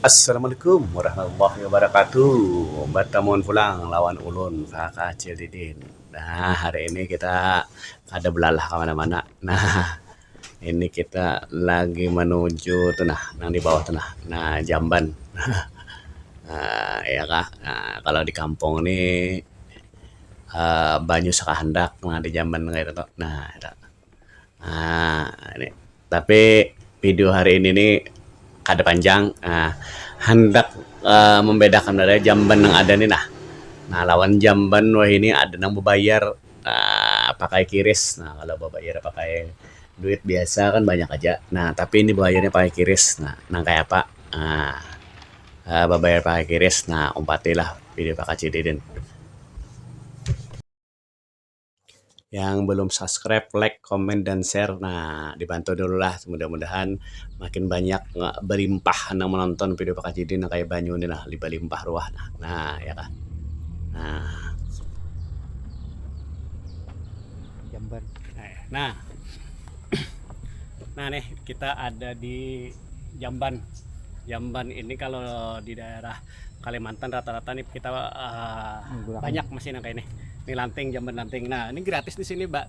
Assalamualaikum warahmatullahi wabarakatuh. Batamun pulang lawan ulun kaka acil didin. Nah hari ini kita kada balalah ka mana-mana nah ini kita lagi manuju tu nah nang di bawah tu nah nah jamban haha iya kah nah kalau di kampung ni. um banyu sakahandak mangaya da jaman kayatu tu nah ira um ni tapi video hari ini ni kada panjang um handak um mambedakan lawan jamban nang ada ni nah nah lawan jamban wahini ada nang babayar um pakai kiris nah kalau babayar pakai duit biasa kan banyak aja nah tapi ini babayarnya pakai kiris nah nang kaya apa um babayar pakai kiris nah umpati lah. Pilih bakacil Deden. Yang belum subscribe, like, comment, dan share. Nah, dibantu dulu lah. Mudah-mudahan makin banyak nggak belimpah nang menonton video bakacil Deden nang kayak banyu ni nah. Belimpah ruah nah. Nah, ya kah. Nah. Jamban. Nah. Nah, nih kita ada di Jamban. Jamban ini kalau di daerah Kalimantan rata-rata nih kita uh, banyak masih nang kayak ini. Ini lanting jamban lanting. Nah, ini gratis di sini, Mbak.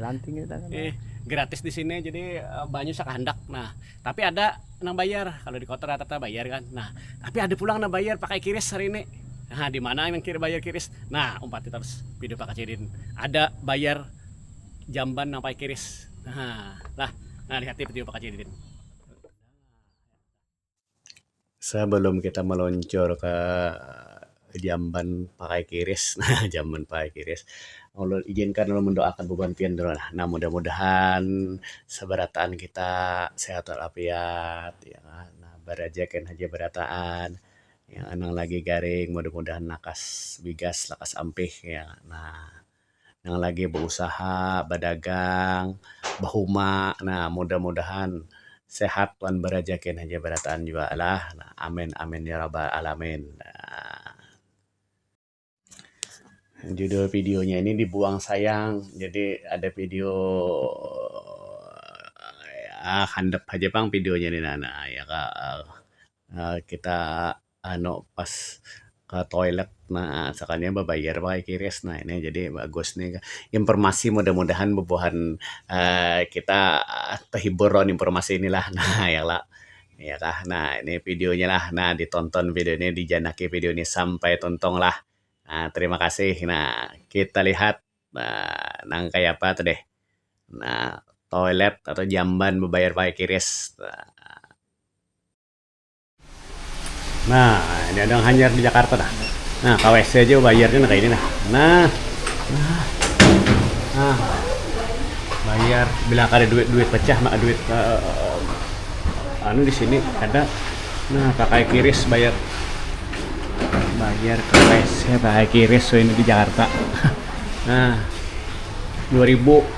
Lanting itu kan. Eh, gratis di sini jadi uh, banyak sakahandak. Nah, tapi ada nang bayar. Kalau di kota rata-rata bayar kan. Nah, tapi ada pulang nang bayar pakai kiris hari ini. Nah, di mana yang kiri bayar kiris? Nah, umpat kita terus video Pak Kacidin. Ada bayar jamban nang pakai kiris. Nah, lah, nah lihat tipe-tipe Pak Kacidin. Sabalum kita maluncur ka jamban pakai kiris, nah jamban pakai kiris, ulun ijinkan ulun mandoakan bubuhan pian dulu lah. Nah mudah-mudahan sabarataan kita sihat wal afiat ya kan. Nah barajakan haja barataan nang lagi garing mudah-mudahan lakas bigas, lakas ampih ya. Nah. nang lagi bausaha, badagang, bahuma nah mudah-mudahan sehat wan barajaki haja barataan jua lah. Amin amin ya rabbal alamin. Judul video nya ini dibuang sayang jadi ada video handap haja pang video nya ni nah. Kita. anu pas ke toilet ne sakalinya bebayar pakai qris ne ini jadi bagus ni informasi mudah-mudahan bebuhan um kita tehibur lawan informasi ni lah um ya kala iya kah nah ini video nya lah nah di tonton video ni dijanaki video ni sampai tuntung lah um terima kasih nah kita lihat um nang kaya apa tu deh um toilet atau jamban bebayar pakai qris um. Nah, ini ada yang hanyar di Jakarta dah. Nah, ke WC aja bayarnya nah kayak ini nah. Nah. Nah. nah. Bayar bila ada duit-duit pecah maka duit uh, uh, anu di sini ada. Nah, pakai kiris bayar. Bayar ke WC pakai kiris so ini di Jakarta. nah. 2000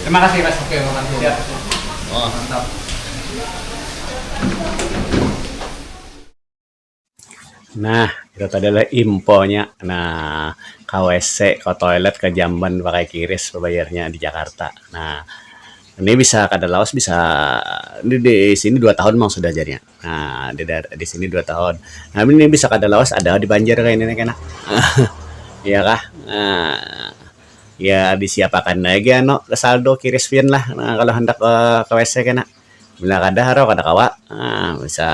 Terima kasih Mas. Oke, makasih. Siap. Oh, mantap. Nah, itu tadi adalah imponya. Nah, ke WC, ke toilet, ke jamban pakai kiris bayarnya di Jakarta. Nah, ini bisa kada lawas bisa ini di sini dua tahun memang sudah jadinya. Nah, di, di sini dua tahun. Nah, ini bisa kada lawas ada di Banjar kayak ini kena. ya kah? Nah, ya disiapakan lagi ano saldo kiris pian lah nah, kalau hendak ke, ke WC kena. Bila kada haro kada kawa. Nah, bisa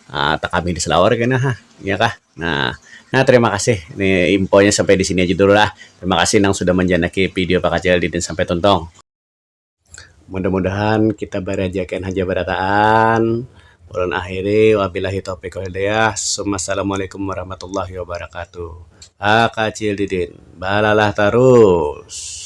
uh, tekami di selawar kena ha. Ya kah? Nah, Nah, terima kasih. Ini infonya sampai di sini aja dulu lah. Terima kasih nang sudah menjanaki video Pak Kacil Didin sampai tuntung. Mudah mudahan kita barajakan haja barataan. Ulun akhiri wabilahi taufiq wal hidayah. Summa assalamualaikum warahmatullahi wabarakatuh. Hakacil didin balalah tarus.